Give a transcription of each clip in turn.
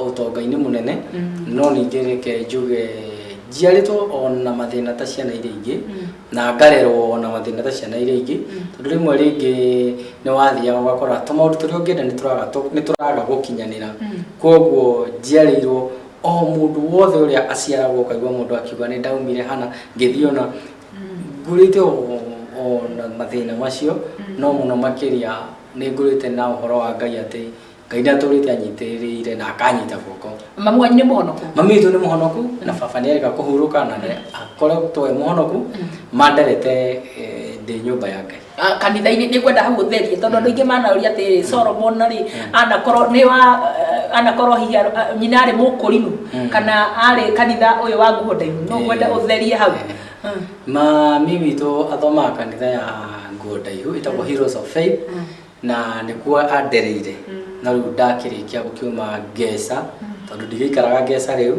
ũtonga-inĩ mũnene no ningĩ reke njuge njiarĩtwo ona mathĩna ta ciana iria ingĩ na ngarerwo ona mathĩna ta ciana iria ingĩ tondũ rĩmwe rĩngĩ nĩ wathiaga ũgakora tũmaũndũ tũrĩa ũngĩenda nĩ tũraga tũ- nĩ tũraga gũkinyanĩra kwoguo njiarĩirwo o mũndũ wothe ũrĩa aciaragwo ũkaigua mũndũ akiuga nĩ ndaumire hana ngĩthiĩ ona ngũrĩte o- ona mathĩna macio no mũno makĩria nĩ ngũrĩte na ũhoro wa ngai atĩ ngai ndatũrĩte anyitĩrĩire na akanyita guoko mami wanyu nĩ mũhonoku mami witũ nĩ mũhonoku na baba nĩ arĩka kũhurũka na nĩ- akoretwo e mũhonoku manderete eh, ndĩ nyũmba ya ngai Ah, kanitha-inĩ nĩ ngwenda hau ũtherie tondũ andũ aingĩ manaũria atĩrĩ solomon rĩ anakorwo nĩ wa eh, anakorwo hihi ar- ah, nyina arĩ mũkũrinu Mm. kana arĩ kanitha ũyũ wa nguo ndaihu no Eh. ngwenda ũtherie hau Eh. Mm. mami witũ athomaga kanitha ya nguo ndaihu ĩtagwo heroes of faith na nĩkuo andereire no rĩu ndakĩrĩkia gũkiuma ngeca tondũ ndigĩikaraga ngeca rĩu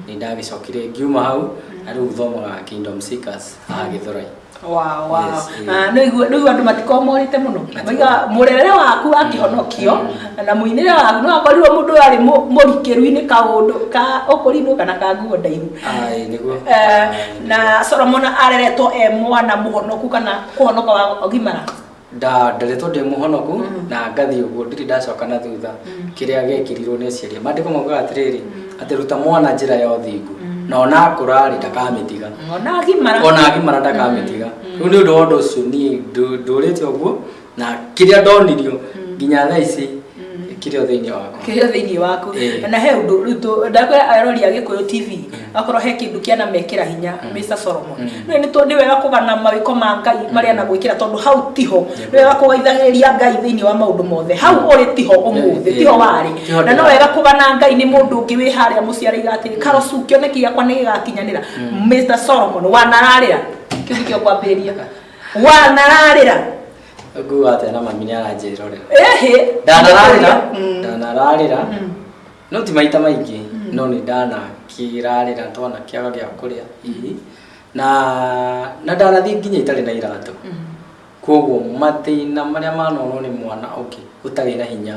nĩ ndagĩcokire ngiuma hau na rĩu thomaga Kingdom Seekers haha Gĩthũrai Wow, wow. Yes, eh. Ah, no igua no igua andå matikorwo morite må no Matikoragwo. maiga må rerere waku akĩhonokio na må inä waku no akorirwo må ndå arä må rikä ru-inä ka å ndå ka å kå rinå kana ka nguo ndaihu Ai, nĩguo Eh, na solomon areretwo e mwana må honoku kana kå honoka wa gimara ndarĩ tondũ ndĩ mũhonoku na ngathiĩ ũguo ndirĩ ndacoka na thutha kĩrĩa gĩekirirwo nĩ aciari mandĩko maugaga atĩrĩrĩ atĩ ruta mwana njĩra ya ũthingu na ona akũrarĩ ndakamĩtiga ona agimara ona agimara ndakamĩtiga rĩu nĩ ũndũ wa ũndũ ũcio niĩ ndũ- ndũrĩte ũguo na kĩrĩa ndonirio nginya thaa ici kĩrĩ o thĩinĩ waku kĩrĩa thĩinĩ waku Ĩĩ. na he ũndũ rĩu tũ- ndakwĩra arori a gĩkũyũ tv akorwo he kĩndũ kĩana mekĩra hinya mr solomon rĩu nĩ tondũ nĩ wega kũgana mawĩko ma ngai marĩa na gwĩkĩra tondũ hau tiho nĩ wega kũgaithagĩrĩria ngai thĩinĩ wa maũndũ mothe hau ũrĩ tiho ũmũthĩ Ĩĩ. tiho warĩ Tiho na no ndĩrarĩ. wega kũgana ngai nĩ mũndũ ũngĩ wĩ harĩa mũciarĩire atĩrĩ karocu kĩoneki gĩakwa nĩ gĩgakinyanĩra mr solomon wanararĩra kĩu nĩkĩo kwambĩrĩria wanararĩra nguga atĩa na mami nĩ aranjĩrorera Ĩhĩ. ndanararĩra Mm. ndanararĩra Mm. no ti maita maingĩ no nĩ ndanakĩrarĩra twana kĩaga gĩa kũrĩa hihi na na ndanathiĩ nginya itarĩ na iratũ Mm. kwoguo mathĩna marĩa manonwo nĩ mwana ũngĩ ũtarĩ na hinya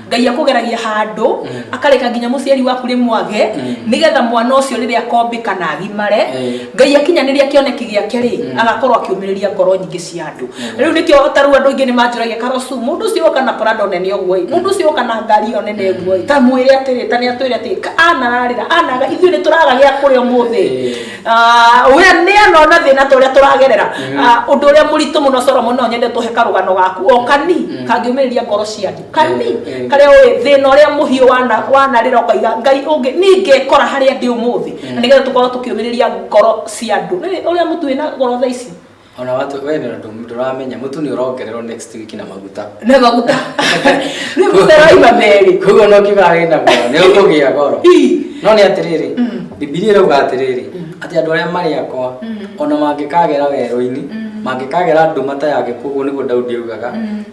ngai akugeragia handu Mm. akareka nginya muciari waku ri mwage Mm. nigetha mwana ucio riri akombika na agimare Eh. ngai akinyaniria kioneki giake ri Mm. agakorwo akiumiriria ngoro nyingi cia andu Mm. riu nikio taru andu aingi ni manjuragia karosu mundu ucio oka na prado nene uguo i mundu ucio oka na ngari yo nene uguo i tamwire atiri tani atwire ati "Ka- anararira anaga ithuĩ ni turaga gia kuri umuthi Eh. Ah, we ni anona thina ta uria turagerera Mm. Ah, undu uria muritu muno solomon no nyende tuhe karugano gaku okani Mm. kangiumiriria ngoro cia andu kani karĩa ũĩ thĩna ũrĩa mũhiũ wana wanarĩra ũkaiga ngai ũngĩ niĩ ngekora harĩa ndĩ ũmũthĩ na nĩgetha tũkorwo tũkĩũmĩrĩria ngoro cia andũ Nĩ- ũrĩa mũtu wĩna ngoro tha ici ona watu we ndio ndo turamenya mutu ni urongererwo next week na maguta nĩ maguta nĩ maguta raima merĩ koguo no kiuga wĩ na goro nĩ ũkũgĩa goro Ii. no nĩ atĩrĩrĩ bibilia ĩrauga atĩrĩrĩ atĩ andũ arĩa marĩ akwa ona mangĩkagera werũ-inĩ mangĩkagera nduma ta ya gĩkuũ ũguo nĩguo daudi augaga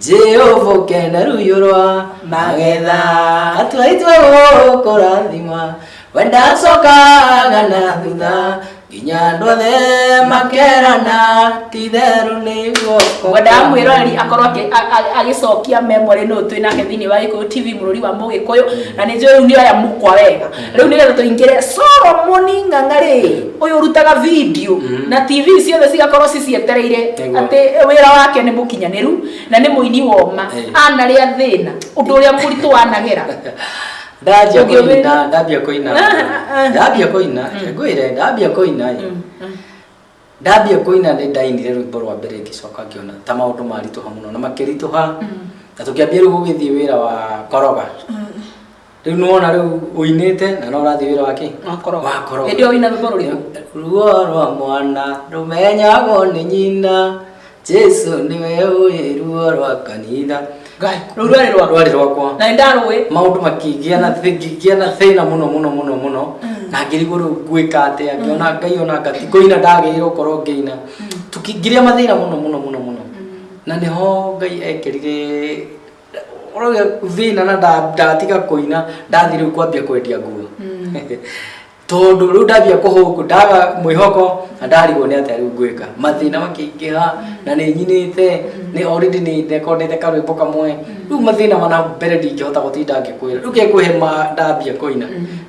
Jehova ũkenda ruyo rwa magetha atua itwe gũkũrathima wendacokaga na thutha nginya andũ othe makerana titherũ nĩguo wendaga mwĩroreri akorwo akĩ- a- a- agĩcokia memory nũ twĩ nake thĩinĩ wa gĩkũyũ tv mũrũri wa mũgĩkũyũ na nĩ njũĩ rĩu nĩ oya mũkwa wega rĩu nĩgetha tũingĩre solomoni ng'ang'a rĩ ũyũ ũrutaga video Mhm. na tv ciothe cigakorwo cicietereire Nĩguo. atĩ wĩra wake nĩ mũkinyanĩru na nĩ mũini woma Eh. anarĩa thĩna ũndũ ũrĩa mũritũ wanagera ndambia Ũngĩ ũmenya. kũina ndambia kũina Ah, ah, ah. ndambia kũina ngwĩre ndambia kũina ĩ. Mm, mm. ndambia kũina nĩ ndainire rwĩmbo rwa mbere ngĩcoka ngĩona ta maũndũ maritũha mũno na makĩritũha na tũkĩambia rĩu gũgĩthiĩ wĩra wa koroga Rĩu nĩ wona rĩu ũinĩte na no ũrathiĩ wĩra wa kĩ? Wa koroga. Wa koroga. Hĩndĩ ĩyo ũina rwĩmbo rũrĩkũ? Ruo rwa mwana rũmenyagwo nĩ nyina Jesu nĩwe ũĩ ruo rwa kanitha Ngai, rũu rwarĩ rwakwa. rwarĩ rwakwa Na nĩ ndarũĩ. maũndũ makĩgĩa na thĩ- ngĩgĩa na thĩna mũno mũno mũno mũno na ngĩrigwo rĩu ngwĩka atĩa ngĩona ngai ona ngati kũina ndagĩrĩirwo gũkorwo ngĩina Tũkĩ- ngĩrĩa mathĩna mũno mũno mũno mũno na nĩho ngai ekerire ũrauga thĩna na nda- ndatiga kũina ndathiĩ rĩu kwambia kwendia nguo tondũ rĩu ndambia kũhũngũ ndaga mwĩhoko na ndarigwo nĩ atĩa rĩu ngwĩka mathĩna makĩingĩha na nĩ nyinĩte nĩ already nĩ ndekondete karwĩmbo kamwe rĩu mathĩna mana mbere ndingĩhota gũtinda ngĩkwĩra rĩu kekũhe ma ndambia kũina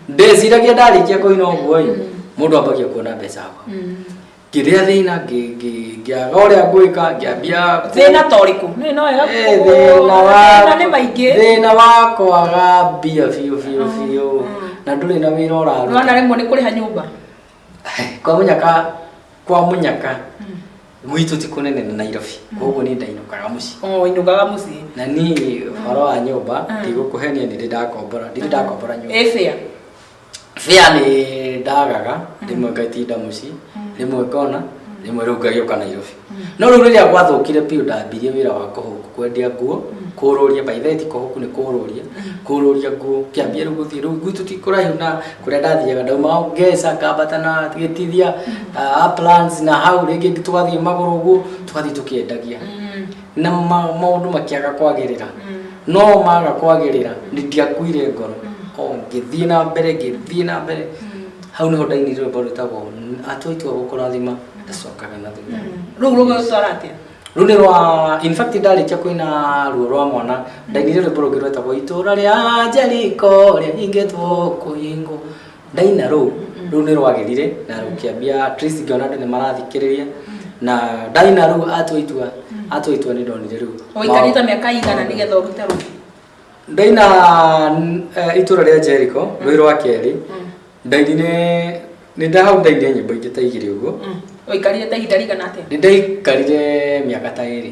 ndeciragia ndarĩkia kũina ũguo-ĩ mũndũ ambagia kuona mbeca hau ngĩrĩa thĩna ngĩ- ngĩ- ngĩaga ũrĩa ngwĩka ngĩambia kũ- thĩna ta ũrĩkũ nĩ no wega Eh, kũ- thĩna wa thĩna nĩ maingĩ thĩna wa kwaga mbia biũ biũ biũ na ndũrĩ na wĩra nona ũraruta rĩmwe nĩ kũrĩha nyũmba kwa mũnyaka kwa mũnyaka gwitũ ti kũnene na nairobi koguo nĩ ndainũkaga mũciĩ o inũgaga mũciĩ na niĩ ũhoro wa nyũmba ndigũkũhenia nĩ ndĩ ndakombora ndirĩ ndakombora nyũmba ĩbĩa bĩa nĩ ndagaga rĩmwe ngaitinda mũciĩ rĩmwe ngona rĩmwe rĩu ngagĩũka nairobi no rĩu rĩrĩa gwathũkire biũ ndambirie wĩra wa kũhũku kwendia nguo kũrũria baitheti kũhũku nĩ kũrũria kũrũria nguo kĩambia rĩu gũthiĩ rĩu gwitũ ti kũraihu na kũrĩa ndathiaga ndauma ngeca ngambata na gĩtithia ah, plans na hau rĩngĩ tũgathiĩ magũrũ ũguo tũgathiĩ tũkĩendagia na ma- maũndũ makĩaga kwagĩrĩra no maga kwagĩrĩra ndiakuire ngoro o ngĩthiĩ na mbere ngĩthiĩ na mbere hau nĩho ndaini rwĩmbo rwĩtagwo atwa itua gũkũrathima ndacokaga na thutha rä u rå gäcora atä rä u nä rwa in fact ndarä kia kwä na ruo rwa mwana ndainire rwä mbo rå ngä rwetagwo itå ra rä a njeriko rä a ingä two kå hingå ndaina rũu rũu nĩ rwagerire na rũkĩambia at least ngĩona andũ nĩ marathikĩrĩria na ndaina rũu atua itua atua itua nĩ ndonire rĩu ũikarĩte mĩaka igana nĩgetha ũrute rũtha ndaina n- eh, itũra rĩa Jericho rwĩ rwa kerĩ ndainire nĩ ndahau ndainire nyĩmbo ingĩ ta igĩrĩ ũguo ũikarĩte ihinda rĩigana atĩa nĩ ndaikarire mĩaka ta ĩrĩ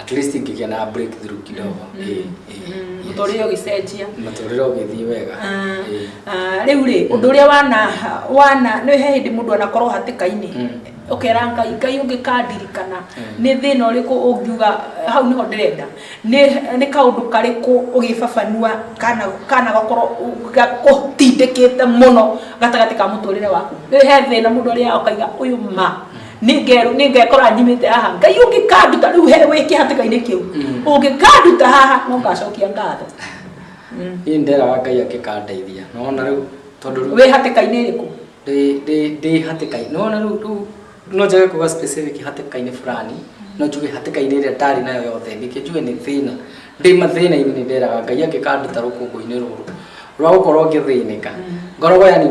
at least ingĩgĩa na breakthrough kidogo Ĩĩ, ĩĩ, yes. mũtũrĩre ũgĩcenjia mũtũrĩre ũgĩthiĩ wega Ah, Ĩĩ. ah, rĩu rĩ ũndũ ũrĩa wana wana nĩ he hĩndĩ mũndũ anakorwo hatĩka-inĩ Mm. ũkera ngai ngai ũngĩkandirikana Mm. nĩ thĩna ũrĩkũ ũngiuga eh, hau nĩho ndĩrenda nĩ nĩ kaũndũ karĩkũ ũgĩbabanua kana kana gakorwo gakũtindĩkĩte mũno gatagatĩ ka mũtũrĩre waku nĩ he thĩna mũndũ ũrĩa ũkaiga ũyũ ma Nĩnge- nĩngekora nyimĩte haha ngai ũngĩkanduta rĩu he wĩ kĩhatĩka-inĩ kĩu Mm. ũngĩkanduta haha no ngacokia ngatho niĩ nderaga ngai angĩkandeithia nona rĩu tondũ rĩu wĩ hatĩka-inĩ ĩrĩkũ ndĩ- ndĩ- ndĩ hatĩka-inĩ nona rĩu rĩu no njage kuga specific hatĩka-inĩ fulani no njuge hatĩka-inĩ ĩrĩa ndarĩ nayo yothe nĩkĩ njuge nĩ thĩna ndĩ mathĩna-inĩ nĩ nderaga ngai angĩkanduta rũkũngũ-inĩ rũrũ rwa gũkorwo ngĩthĩnĩka ngoragwo yani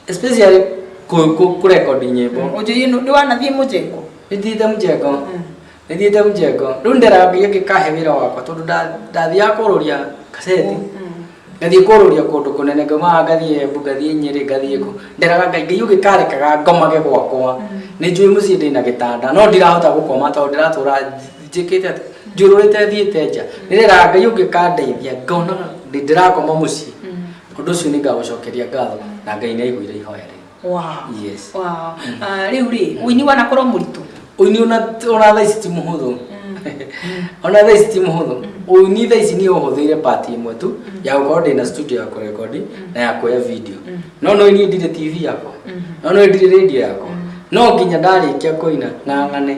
especially ku- ku- kurecord nyimbo Oje yenu ndi wanathiĩ mũjengo. nithiite mjengo nithiite mjengo riu ndĩrambia ngĩkahe wĩra wakwa tondũ nda- ndathiaga kũrũria kaseti ngathiĩ kũrũria kũndũ kũnene ngaumaga ngathiĩ embu ngathiĩ nyĩrĩ ngathiĩ kũ nderaga ngai ngai ũgĩkarekaga ngomage gwakwa nĩ njũĩ mũciĩ ndĩ na gĩtanda no ndirahota gũkoma tondũ ndĩratũra njĩkĩte atĩ njũrũrĩte thiĩte nja nĩreraga ngai ũngĩkandeithia ngonaga ndĩ- ndĩrakoma mũciĩ Ũndũ ũcio nĩ ngagũcokeria ngatho na Ngai nĩ aiguire ihoya rĩu. Wow. Yes. Wow. Ah, Rĩu rĩ, ũini wanakorwo mũritũ. Ũini ona ona thaa ici ti mũhũthũ. Ona thaa ici ti mũhũthũ. Ũini thaa ici niĩ ũhũthĩire part ĩmwe tu ya gũkorwo ndĩna studio ya kũrekondi na ya kuoya video. No no niĩ ndirĩ TV yakwa. No no ndirĩ radio yakwa. No nginya ndarĩkia kũina ng'ang'ane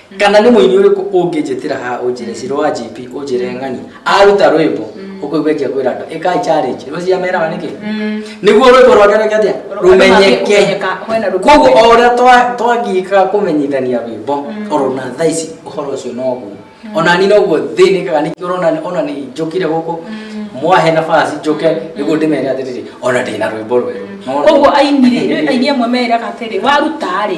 kana nĩ mũini ũrĩkũ ũngĩnjĩtĩra haha ũnjĩre ciro wa gp ũnjĩre ng'ani aruta rwĩmbo ũkũigua ingĩkwĩra andũ ĩkai challenge rĩu ciameraga nĩkĩ nĩguo rwĩmbo rwake rwĩke atĩa rũmenyeke koguo o ũrĩa twa- twagĩkaga kũmenyithania rwĩmbo oro na thaa ici ũhoro ũcio noguo ona ni noguo thĩnĩkaga nĩkĩo ũrona ona nĩ njũkire gũkũ mwahe nabasi njũke nĩguo ndĩmere atĩrĩrĩ ona ndĩna rwĩmbo rwerũ Nona? koguo aini rĩ rĩu aini amwe meraga atĩrĩ waruta rĩ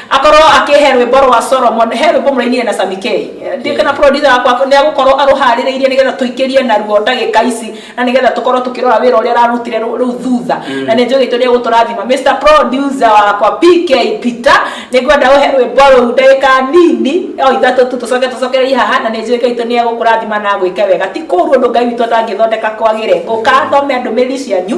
akorwo akĩhe rwĩmbo rwa solomon he rwĩmbo mũrainire na sami k ndiũ kana producer wakwa nĩ agũkorwo arũharĩrĩirie nĩgetha tũingĩrie naruo ndagĩka ici na nĩgetha tũkorwo tũkĩrora wĩra ũrĩa ararutire rũ- rĩu thutha na nĩ njũgĩtwo nĩ egũtũrathima mr producer wakwa pk peter nĩ ngwenda ũhe rwĩmbo rũu ndagĩka nini o ithatũ tu tũcoke tũcokererie haha na nĩ njũĩ ngai witũ nĩ egũkũrathima na agwĩke wega ti kũru ũndũ ngai witũ atangĩthondeka kwagĩre ngũkathome ndũmĩrĩri cianyu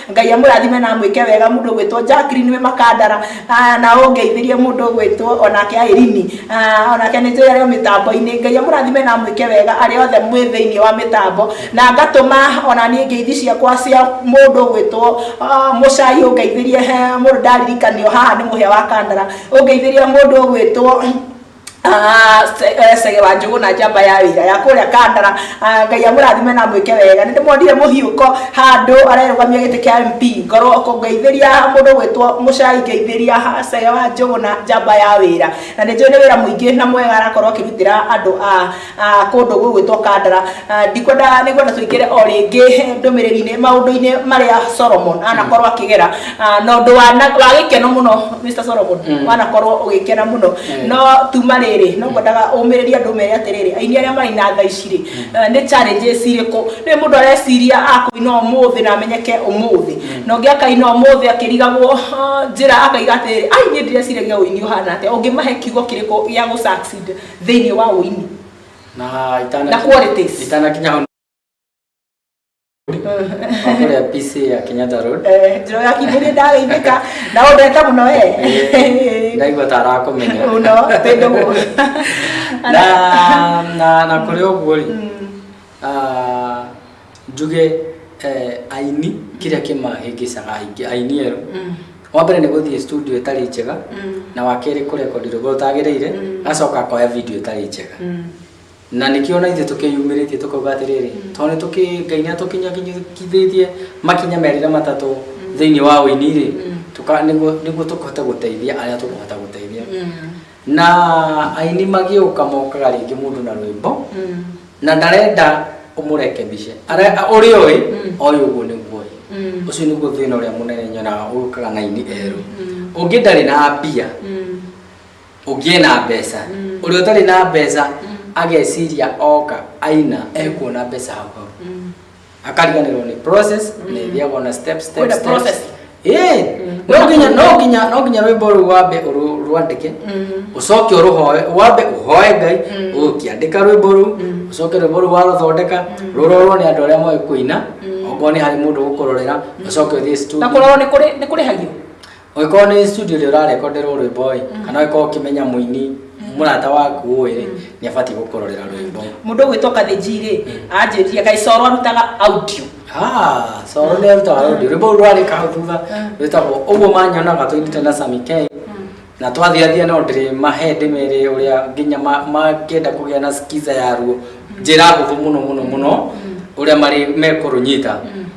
Ngai amũrathime na amwĩke wega mũndũ ũgwĩtwo Jacqueline wĩ Makandara ah, na ũngeithĩrie mũndũ ũgwĩtwo onake Airini ah, onake nĩ njũĩ arĩ o mĩtambo-inĩ Ngai amũrathime na amwĩke wega arĩa othe mwĩ thĩinĩ wa mĩtambo na ngatũma ona niĩ ngeithi ciakwa cia mũndũ ũgwĩtwo ah, Mũcai ũngeithĩrie he mũndũ ndaririkanio haha nĩ mũhĩa wa Kandara ũngeithĩrie mũndũ ũgwĩtwo Ah, se- eh, cege wa njũgũ na njamba ya wĩra ya kũrĩa kandara Ah, ngai amũrathime na mwĩke wega nĩ ndĩmuonire mũhiũko handũ arerũgamia gĩtĩ kĩa mp ngoro kũngeithĩria mũndũ gwĩtwo mũcai ngeithĩria ha- cege wa njũgũ na njamba ya wĩra na nĩ njũĩ nĩ wĩra mũingĩ na mwega arakorwo akĩrutĩra andũ a Ah, kũndũ gũgwĩtwo kandara Ah, ndikwenda nĩkwenda tũingĩre o rĩngĩ ndũmĩrĩri-inĩ maũndũ-inĩ marĩa solomon anakorwo akĩgera Ah, na ũndũ wa na- wa gĩkeno mũno mr solomon Mm. wanakorwo ũgĩkena mũno Mm. no tuma rĩrĩ no ngwendaga ũmĩrĩrie andũ mere atĩrĩrĩ aini arĩa marĩ na tha ici rĩ eh, nĩ challenges irĩkũ nĩ mũndũ areciria akũina ũmũthĩ na amenyeke ũmũthĩ na ũngĩ akaina ũmũthĩ akĩrigagwo ah, njĩra akaiga atĩrĩrĩ ai niĩ ndireciragia ũini ũhana atĩa ũngĩmahe kiugo kĩrĩkũ gĩa gũ succeed thĩinĩ wa ũini na itana na qualities itanakinya hau kũrĩa PC ya Kenyatta Road Eh, njĩra ya kĩmbũri ndageithĩka na ũndete mũno Eh, ndaigua ta arakũmenya mũno tĩndũ mũno na na na kũrĩ ũguo rĩ ah, njuge eh, aini kĩrĩa kĩmahĩngĩcaga aingĩ aini erũ wa mbere nĩ gũthiĩ studio ĩtarĩ njega na wa kerĩ kũrekondi rwĩmbo rũtagĩrĩire agacoka akoya video ĩtarĩ njega na nĩkĩo na ithuĩ tũkĩyumĩrĩtie tũkauga atĩrĩrĩ tondũ nĩ tũkĩ ngai nĩ atũkinyakithĩtie makinya merĩ na matatũ thĩinĩ wa ũini rĩ tũka- nĩguo nĩguo tũkũhote gũteithia arĩa tũkũhota gũteithia na aini magĩũka mokaga rĩngĩ mũndũ na rwĩmbo mm. na ndarenda ũmũrekebice ũrĩ oĩ mm. oĩ ũguo nĩguo mm. ũcio nĩguo thĩna ũrĩa mũnene nyonaga ũkaga na ini erũ ũngĩ ndarĩ na mbia ũngĩ ena mbeca ũrĩa ũtarĩ na mbeca ageciria oka aina ekuona mbeca hau hau akariganirwo nĩ process na ithiagwo na step step Kwĩna steps. process. Eh, Mm. no nginya no nginya no nginya rwĩmbo rũu wambe ũrũ- rwandĩke ũcoke ũrũhoe wambe ũhoe ngai ũkĩandĩka rwĩmbo rũu ũcoke rwĩmbo rũu warũthondeka rũrorwo nĩ andũ arĩa moĩ kũina okorwo nĩ harĩ mũndũ ũgũkũrorera ũcoke ũthiĩ na studio kũrorwo nĩ kũrĩ- nĩ kũrĩhagio Ũngĩkorwo nĩ studio ĩrĩa ũrarekonderwo rwĩmbo ĩ mm. kana ũngĩkorwo ũkĩmenya mũini mm. mũrata waku ũĩ rĩ mm. nĩ abatiĩ gũkũrorera rwĩmbo mũndũ ũgwĩtwo kathĩnji rĩ anjĩtie kaĩ coro arutaga audio ah, coro nĩ arutaga audio rwĩmbo rũu rwarĩ kau thutha rwĩtagwo ũguo manyonaga tũinĩte na Sami K na twathiathia no ndĩrĩ mahe ndĩmere ũrĩa nginya mangĩenda kũgĩa na skiza yaruo njĩra hũthũ mũno mũno mũno ũrĩa marĩ mekũrũnyita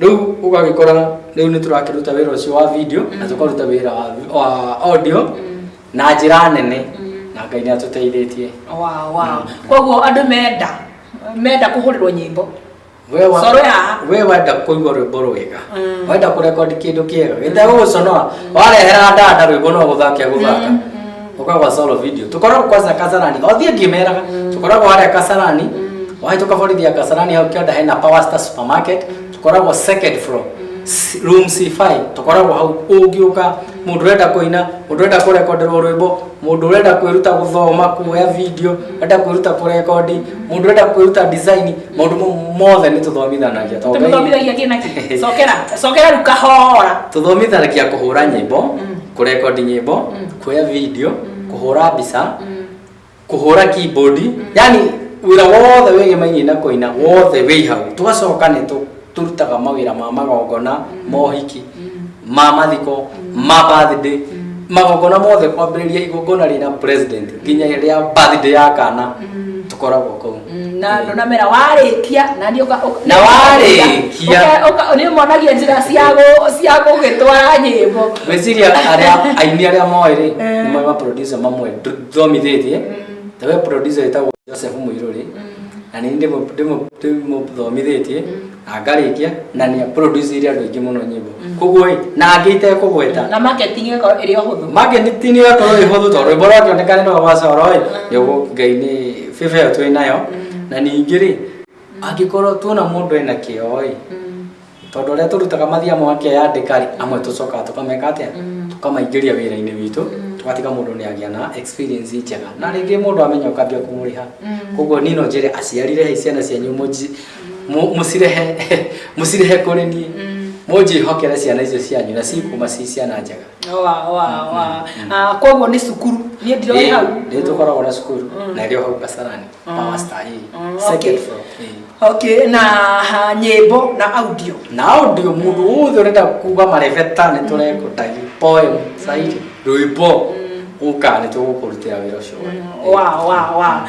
rĩu ũgagĩkora rĩu nĩ tũrakĩruta wĩra ũcio wa video na tũkaruta wĩra wa- wa audio na njĩra nene na ngai nĩ atũteithĩtie Wow, wow. koguo andũ menda menda kũhũrĩrwo nyĩmbo We wa- Coro ya- we wenda kũigua rwĩmbo rwega Mm. wenda kũrekondi kĩndũ kĩega gĩtegũgũconoa warehera ndanda rwĩmbo no gũthaka gũthaka Oka kwa solo video. Tukoragwo kwanza Kasarani. Othiĩ ngĩmeraga. Tukoragwo harĩa Kasarani. Waĩ tũkaborithia Kasarani hau kĩanda hena Power Star Supermarket. Tukoragwo second floor. C- Room C5. Tukoragwo hau ũngĩũka mũndũ ũrenda kũina, mũndũ ũrenda kũrekonderwo rwĩmbo, mũndũ ũrenda kwĩruta gũthoma, kuoya video, ũrenda kwĩruta kũrekondi, mũndũ ũrenda kwĩruta design, maũndũ mau mothe nĩ tũthomithanagia. Tondũ Ngai- tũmũthomithagĩa kĩna kĩ cokera cokera rĩu kahora tũthomithanagia kũhũra nyĩmbo kũrekondi nyĩmbo kuoya video kũhũra mbica kũhũra keyboard yani wĩra wothe wĩgemainie na kũina wothe wĩ hau tũgacoka nĩ tũ- tũrutaga mawĩra ma magongona mohiki ma mathiko ma birthday magongona mothe kwambĩrĩria igongona rĩna president nginya rĩa birthday ya kana tũkoragwo kũu Mm, na andå na mera warä kia na nä Na warĩkia. nä monagia njä ra cia gå gä twara nyä mbo gwĩciria arĩa aini arĩa moĩ rĩ Eh. nĩ moĩ maproducer mamwe thomithĩtie ta we producer wĩtagwo joseph mũirũrĩ na nĩ ndĩmũthomithĩtie na ngarĩkia na nĩ producire andũ aingĩ mũno nyĩmbo koguo ĩ na angĩ itekũgweta na marketing ĩgakorwo ĩrĩ o hũthũ marketing ĩgakorwo ĩ hũthũ tondũ rwĩmbo rwakĩoneka nĩ rwa wacoro ĩ nĩguo ngai nĩ bĩba ĩyo twĩ nayo na ningĩ rĩ angĩkorwo tuona mũndũ ena kĩo ĩ tondũ ũrĩa tũrutaga mathia mwake yandĩka rĩ amwe tũcokaga tũkameka atĩa tũkamaingĩria wĩra-inĩ witũ tũgatiga mũndũ nĩ agĩa na experience njega na rĩngĩ mũndũ amenya ũkambia kũmũrĩha koguo niĩ no njĩre aciari rĩhai ciana cianyu mũji Mu- mũcirehe mũcirehe kũrĩ niĩ mũnjĩhokere ciana icio cianyu na cikuma ci ciana njega wa wa wa Ah, koguo nĩ cukuru niĩ ndiroi hau nĩ tũkoragwo na cukuru na ĩrĩ o hau kasarani power star ĩĩ. Mm, okay. second floor ĩĩ. okay na ah, nyĩmbo na audio na audio mũndũ wothe ũrenda kuga marebeta nĩ tũrekũta poem sairi rwĩmbo ũka nĩ tũgũkũrutĩra wĩra ũcio wa wa wa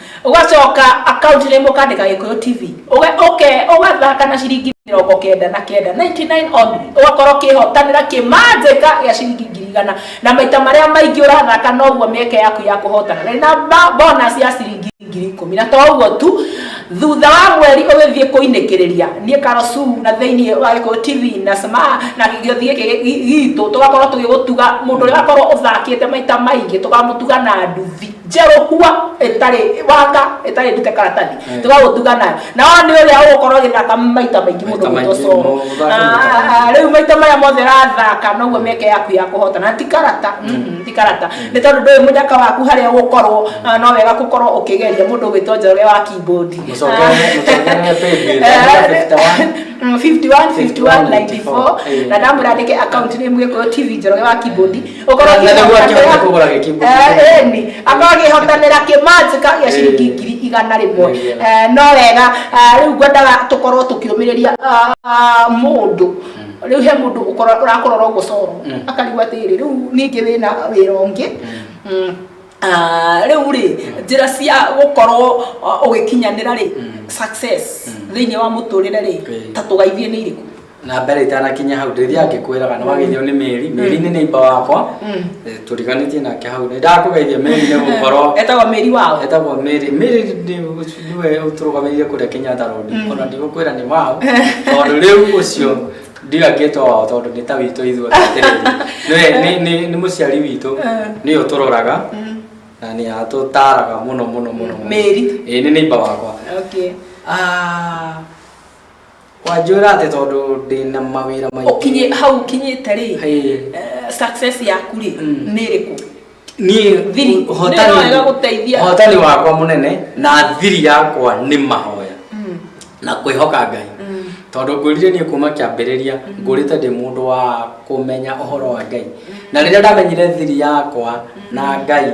ũgacoka akaunti rĩmwe ũkandĩka gĩkũyũ tv ũgathaka na ciringi mĩrongo kenda na kenda 99 only ũgakorwo kĩhotanĩra kĩmanjĩka gĩa ciringi ngiri igana na maita marĩa maingĩ ũrathaka noguo mĩeke yaku ya kũhotana rĩ na bonus ya ciringi ngiri ikũmi na to ũguo tu thutha wa mweri ũgĩthiĩ kũinĩkĩrĩria niĩ karosu na thĩinĩ wa gĩkũyũ tv na sma na gĩothiĩ gitũ tũgakorwo tũgĩgũtuga mũndũ ũrĩa wakorwo ũthakĩte maita maingĩ tũkamũtuga na nduthi njerå kua ĩtarĩ wanga ĩtarĩ ndute karatathi Eh. tũgagũtuga nayo na wa nĩ ũrĩa ũgũkorwo gĩthaka maita maingĩ mũno Maita maingĩ gũtocoro mũno, gũthaka rä u maita maya mothe rathaka noguo mĩeke yaku ya kũhota na ti karata mm, ti karata nĩ tondũ ndũĩ mũnyaka waku harĩa ũgũkorwo ah, no wega gũkorwo ũkĩgeria mũndũ ũgwĩtwo njorge wa keyboard Mũcokere- mũcokere paybill, andĩka 51. Mm, 51 51 94 na ndamwĩra andĩke account name gĩkũyũ tv njoroge wa keyboard Okorwo Na- na nĩguo akĩhotanĩra- akĩhote kũgũra gĩkĩmbu Eh, kĩu. ĩni. Akorwo akĩhotanĩra kĩmanjika gĩa ciringi Eh. ngiri igana rĩmwe Nĩ wega. Eh, no wega eh, rĩu ngwendaga tũkorwo tũkĩũmĩrĩria ah, ah, mũndũ rĩu he mũndũ ũkora- ũrakũrora ũguo coro Mm. akarigwo atĩrĩ rĩu ningĩ wĩna wĩra ũngĩ Mm. Ah, rĩu rĩ njĩra cia gũkorwo ah, ũgĩkinyanĩra rĩ success thĩinĩ wa mũtũrĩre rĩ Okay. ta tũgaithie nĩ irĩkũ na mbere itanakinya hau ndĩthiaga ngĩkwĩraga nĩ wageithio nĩ mĩri mĩri nĩ neiba wakwa Mm. Eh, tũriganĩtie nake hau nĩ ndakũgeithia mĩri nĩ gũkorwo etagwo mĩri wao etagwo mĩri mĩri nĩ- nĩwe ũtũrũgamĩrĩire kũrĩa kenyatta road ona ndigũkwĩra nĩ wao tondũ rĩu ũcio ndiga ngĩtwo wao tondũ nĩ ta witũ ithuĩ atĩrĩrĩ Nĩwe- nĩ- nĩ- nĩ mũciari witũ nĩ ũtũroraga na nĩ atũtaraga mũno mũno mũno mũno. Mĩri. Ĩĩ, nĩ neiba wakwa okay Ah, wanjwĩra atĩ tondũ ndĩna mawĩra maingĩ ũkinyĩ hau ũkinyĩte rĩ Ĩĩ. eh, success yaku rĩ Mm. nĩ ĩrĩkũ niĩ Thiri. Nĩ ũhotani wega gũteithia. ũhotani wakwa mũnene na thiri yakwa nĩ mahoya Mm. na kwĩhoka ngai Mm. tondũ ngwĩrire niĩ kuma kĩambĩrĩria ngũrĩte ndĩ mũndũ wa kũmenya ũhoro wa ngai na rĩrĩa ndamenyire thiri yakwa na ngai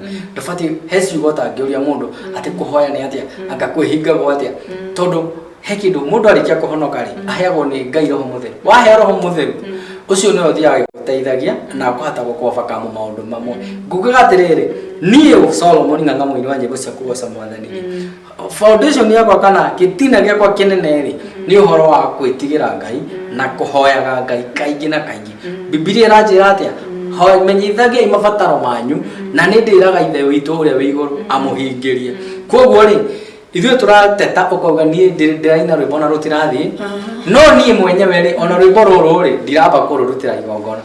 ndũbatiĩ he ciugo ũtangĩũria mũndũ atĩ kũhoya nĩ atĩa anga kwĩhingagwo atĩa tondũ he kĩndũ mũndũ arĩkia kũhonoka rĩ aheagwo nĩ ngai roho mũtheru waheo roho mũtheru ũcio nĩwe ũthiaga gĩgũteithagia na akũhota gũkobakamu maũndũ mamwe ngugaga atĩrĩrĩ niĩ solomon ng'ang'a mũini wa nyĩmbo cia kũgoca mwathani foundation yakwa kana gĩtina gĩakwa kĩnene rĩ nĩ ũhoro wa kwĩtigĩra ngai na kũhoyaga ngai kaingĩ na kaingĩ bibilia ĩranjĩra atĩa Ho- menyithagiai mabataro manyu na nĩ ndĩraga ithe witũ ũrĩa wĩ igũrũ amũhingĩrie kwoguo rĩ ithuĩ tũrateta ũkauga niĩ ndĩ- ndĩraina rwĩmbo na rũtirathiĩ no niĩ mwenyewe rĩ ona rwĩmbo rũrũ rĩ ndiramba kũrũrutĩra igongona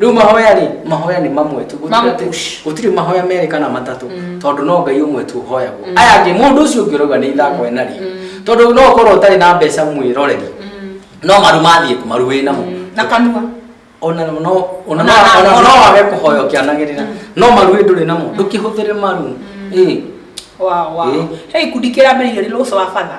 rĩu mahoya rĩ mahoya nĩ mamwe tu Gũtirĩ Mamwe atĩ- tu. gũtirĩ mahoya merĩ kana matatũ tondũ no ngai ũmwe tu ũhoyagwo aya angĩ mũndũ ũcio ũngĩ ũrauga nĩ ithako ena rĩ tondũ no ũkorwo ũtarĩ na mbeca mwĩroreri no maru mathiĩ kũ maru wĩ namo na kanua ona no ona Ona- no ona ona- no wage kũhoya ũkĩanagĩrĩra no maru wĩ ndũrĩ namo ndũkĩhũthĩre maru ĩ Wow, wow. Eh. He ikundi kĩrambĩrĩirio nĩ Lũsũ wa Batha.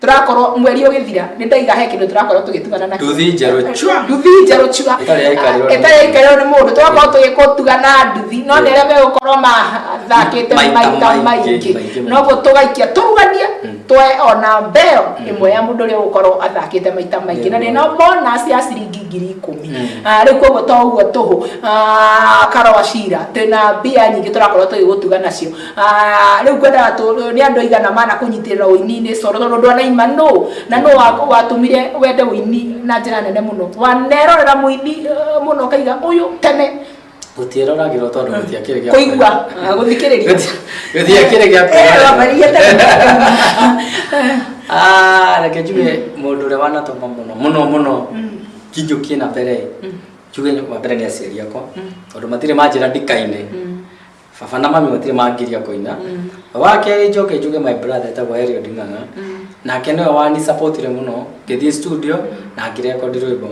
turakorwo mweri ũgĩthira nĩ ndaiga he kĩndũ turakorwo tũgĩtugana na nduthi njerũ chua nduthi njerũ chua ĩtarĩ yaikarĩrwo nĩ ĩtarĩ yaikarĩrwo nĩ mũndũ twakorwo tũgĩkũtuga na nduthi no nĩ arĩa megũkorwo mathakĩte Maita maita maingĩ, maingĩ maingĩ. noguo tũgaikia tũruganie twoe ona mbeo ĩmwe ya mũndũ ũrĩa ũgũkorwo athakĩte maita maingĩ na nĩna bonus ya ciringi ngiri ikũmi Ah, rĩu koguo to ũguo tũhũ Ah, karwacira twĩna mbia nyingĩ tũrakorwo tũgĩgũtuga nacio Ah, rä u ngwendaga tå nä andå aigana mana kå nyitä rä ra å ini-inä coro tondå ndå anaima no na no watå mire wende å ini na njä ra nene må no wanerorera må ini eh, må no kaiga å yå tene gutiĩroragĩrwo tondũ gũtiakĩrĩ gĩa kå igua gå thikä rä ria gũtiakĩrĩ gĩa Ah, reke njuge mũndũ ũrĩa wanatũma mũno mũno mũno kĩnjũkie na mbere njuge wa mbere nĩ aciari akwa tondũ matirĩ manjĩra ndikaine baba na mami matirĩ mangiria kũina wa kerĩ njoke njuge my brother etagwo Elio Nding'ang'a nake nĩwe wani supportire mũno ngĩthiĩ studio na ngĩrekondi rwĩmbo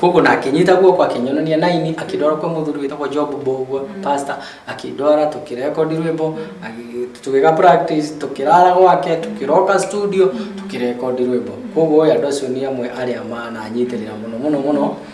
koguo nake nyita guoko akĩnyonania naini akĩndwara kwĩ mũthuri wĩtagwo Job Mbũgua pastor akĩndwara tũkĩrekondi rwĩmbo agĩ- tũgĩka practice tũkĩrara gwake tũkĩroka studio tũkĩrekondi rwĩmbo koguo ũyũ andũ acio nĩ amwe arĩa mananyitĩrĩra mũno mũno mũno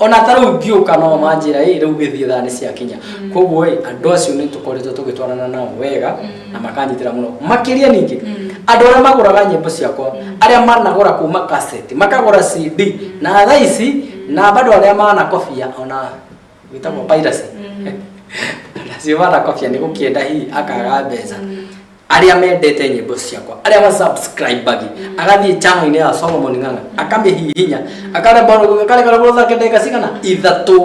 ona ta rĩu ngĩũka no manjĩra ĩ rĩu gĩthiĩ thaa nĩ ciakinya koguo ĩ andũ acio nĩ tũkoretwo tũgĩtwarana nao wega na makanyitĩra mũno makĩria ningĩ andũ arĩa magũraga nyĩmbo ciakwa arĩa managũra kuma kaseti makagũra cd na thaa ici na bado arĩa manakobia ona wĩtagwo piracy acio manakobia nĩ gũkĩenda hihi akaga mbeca arĩa mendete nyĩmbo ciakwa arĩa masubscribagi agathiĩ channel-inĩ ya solomon ng'ang'a akamĩhihinya akaremborwo akarekoragwo thake ndagĩka cigana ithatũ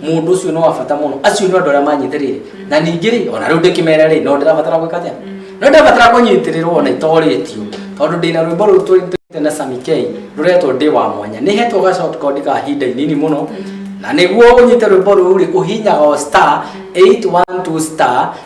mũndũ ũcio no wa bata mũno acio nĩ andũ arĩa manyite rĩrĩ na ningĩ rĩ ona rĩu ndĩkĩmere rĩ no ndĩrabatara gwĩka atĩa no ndĩrabatara kũnyitĩrĩrwo ona itorĩtio tondũ ndĩna rwĩmbo rũu tũrĩte na Sami K rũretwo ndĩ wa mwanya nĩ hetwo ga short code ka hinda inini mũno na nĩguo ũnyite rwĩmbo rũu rĩ ũhinyaga o star 812 star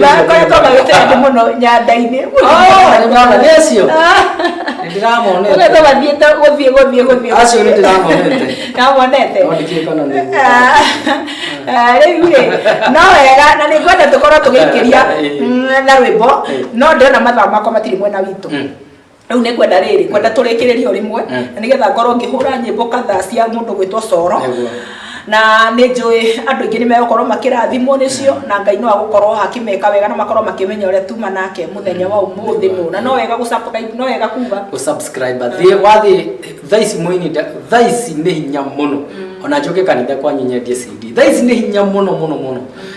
makoretwo magĩte andũ mũno nyanda-inĩ nĩacio nĩndĩramonete koretwo mathiĩte gũthiĩ gũthiĩ gũthiĩ acio nĩndĩramonete ndamonete nondĩkire kana nĩ Ah, rĩu rĩ no wega na nĩ ngwenda tũkorwo tũgĩikĩria mm, na rwĩmbo no ndĩrona mathaa makwa matirĩ mwena witũ Mm. rĩu nĩ ngwenda rĩrĩ ngwenda tũrĩkĩrĩrio rĩmwe Mm. na nĩgetha ngorwo ngĩhũra nyĩmbo kadhaa cia mũndũ gwĩtwo coro Nĩguo. na nĩ njũĩ andũ aingĩ nĩ megũkorwo makĩrathimwo nĩcio na ngai no agũkorwo akĩmeka wega na makorwo makĩmenya ũrĩa tuma nake mũthenya wa ũmũthĩ nũ na no wega gũcapũra- no wega kuga gũsubscribe thiĩ wathiĩ thaa ici mũini nda- thaa ici nĩ hinya mũno ona njoke kanitha kwanyu nyendie cd thaa ici nĩ hinya mũno mũno mũno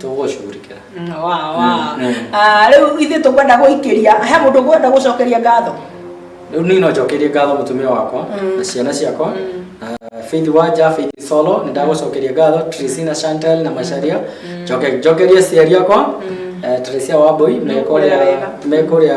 tũgũcurikĩra wa wa Ah, rĩu ithuĩ tũkwenda gũikĩria he mũndũ ũkwenda gũcokeria ngatho rĩu niĩ no njokerie ngatho mũtumia wakwa na ciana ciakwa na Faith Wanja, Faith Solo, nĩ ndagũcokeria ngatho, Tracina Chantel na Macharia, njoke njokerie aciari akwa, eh, Teresia Wambui, me kũrĩa wega. me kũrĩa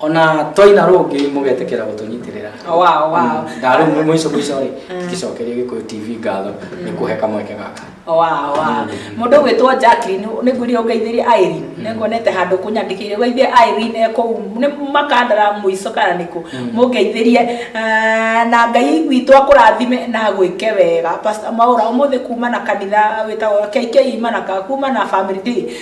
ona twaina rũngĩ mũgetĩkĩra gũtũnyitĩrĩra wow, wow. ndarĩ mwe mũico mũico rĩ mm. ngĩcokeria gĩkũyũ tv ngatho mm. nĩ kũhe kamweke gaka mm. mũndũ gwĩtwo jacklin nĩ ngwĩrire ũngeithĩrie airin nĩ nguonete handũ kũnyandĩkĩire gweithie airin ekũu nĩ makandara mũico kana nĩkũ mũngeithĩrie ah, na ngai witũ akũrathime na gwĩke wega maũra ũmũthĩ kuma na kanitha wĩtagwo kk imana kuma na family day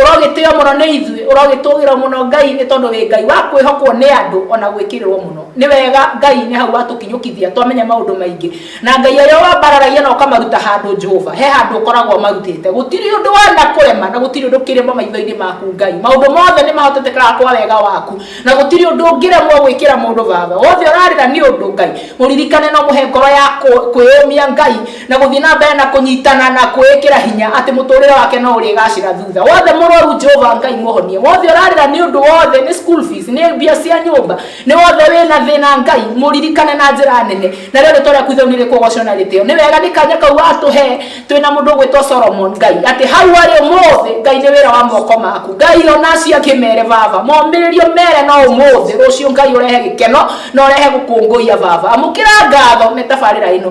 Ũrogĩtĩo mũno nĩ ithuĩ, ũrogĩtũũgĩrwo mũno Ngai, nĩ tondũ wĩ Ngai wa kwĩhokwo nĩ andũ, o na gwĩkĩrĩrwo mũno. Nĩ wega Ngai nĩ hau watũkinyũkithia, twamenya maũndũ maingĩ. Na Ngai arĩ o wambararagia na ũkamaruta handũ Jehova, he handũ ũkoragwo ũmarutĩte. Gũtirĩ ũndũ wanakũrema, na gũtirĩ ũndũ kĩrema maitho-inĩ maku Ngai. Maũndũ mothe nĩ mahotetekaga kwa wega waku, na gũtirĩ ũndũ ũngĩremwo gwĩkĩra mũndũ vava. Wothe ũrarĩra nĩ ũndũ Ngai, mũririkane na ũmũhe ngoro ya kwĩyũmia Ngai, na gũthiĩ na mbere na kũnyitana na kwĩĩkĩra hinya atĩ mũtũrĩre wake no ũrĩgacĩra thutha wothe mũrwaru jehova ngai mũhonie wothe ũrarĩra nĩ ũndũ wothe nĩ school fees nĩ mbia cia nyũmba nĩ wothe wĩna thĩna ngai mũririkane na njĩra nene na rĩo rĩtwa rĩaku ithau nĩ rĩkũgocwo na rĩtĩo nĩ wega nĩ kanya kau watũhe twĩna mũndũ ũgwĩtwo solomon ngai atĩ hau arĩ ũmũthĩ ngai nĩ wĩra wa moko maku ngai ona acio angĩ mere baba momĩrĩrio mere no ũmũthĩ rũciũ ngai ũrehe gĩkeno na ũrehe gũkũngũiya baba amũkĩra ngatho nĩ tabarĩra ĩno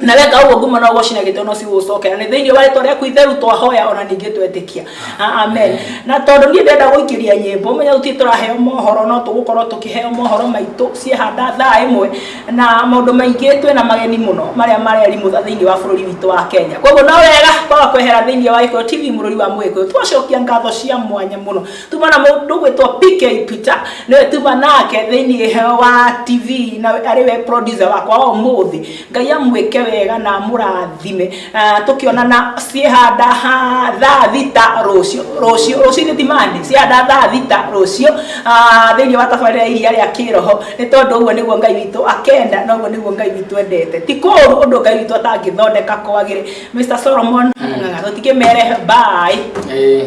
na weka ũguo ngumo no gũcina gĩtĩ no cigũgũcokera nĩ thĩinĩ wa rĩtwa rĩaku itheru twahoya ona ningĩ twetĩkia A- amen na tondũ niĩ ndenda gũikĩria nyĩmbo menya gũtirĩ tũraheo mohoro no tũgũkorwo tũkĩheo mohoro maitũ ciĩhanda thaa ĩmwe na maũndũ maingĩ twĩna mageni mũno marĩa marerimũtha thĩinĩ wa bũrũri witũ wa kenya koguo no wega kwaga kwehera thĩinĩ wa gĩkũyũ tv mũrũri wa mũgĩkũyũ twacokia ngatho cia mwanya mũno tuma na mundu gwitwo PK Peter niwe tuma nake thiini heo wa TV na ari we producer wakwa wa umuthi ngai amwike wega na murathime uh, tukionana ciehanda ha thaa thita rucio rucio rucio ni timani ciehanda thaa thita rucio uh, thiini wa tabarira iria ria kiroho ni tondu uguo niguo ngai witu akenda na uguo niguo ngai witu endete ti kuru undu ngai witu atangithondeka kwagire Mr Solomon mm. tutikimere bye Eh,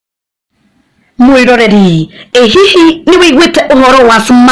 Mwĩroreri, ĩ hihi nĩ ũiguĩte ũhoro wa Smart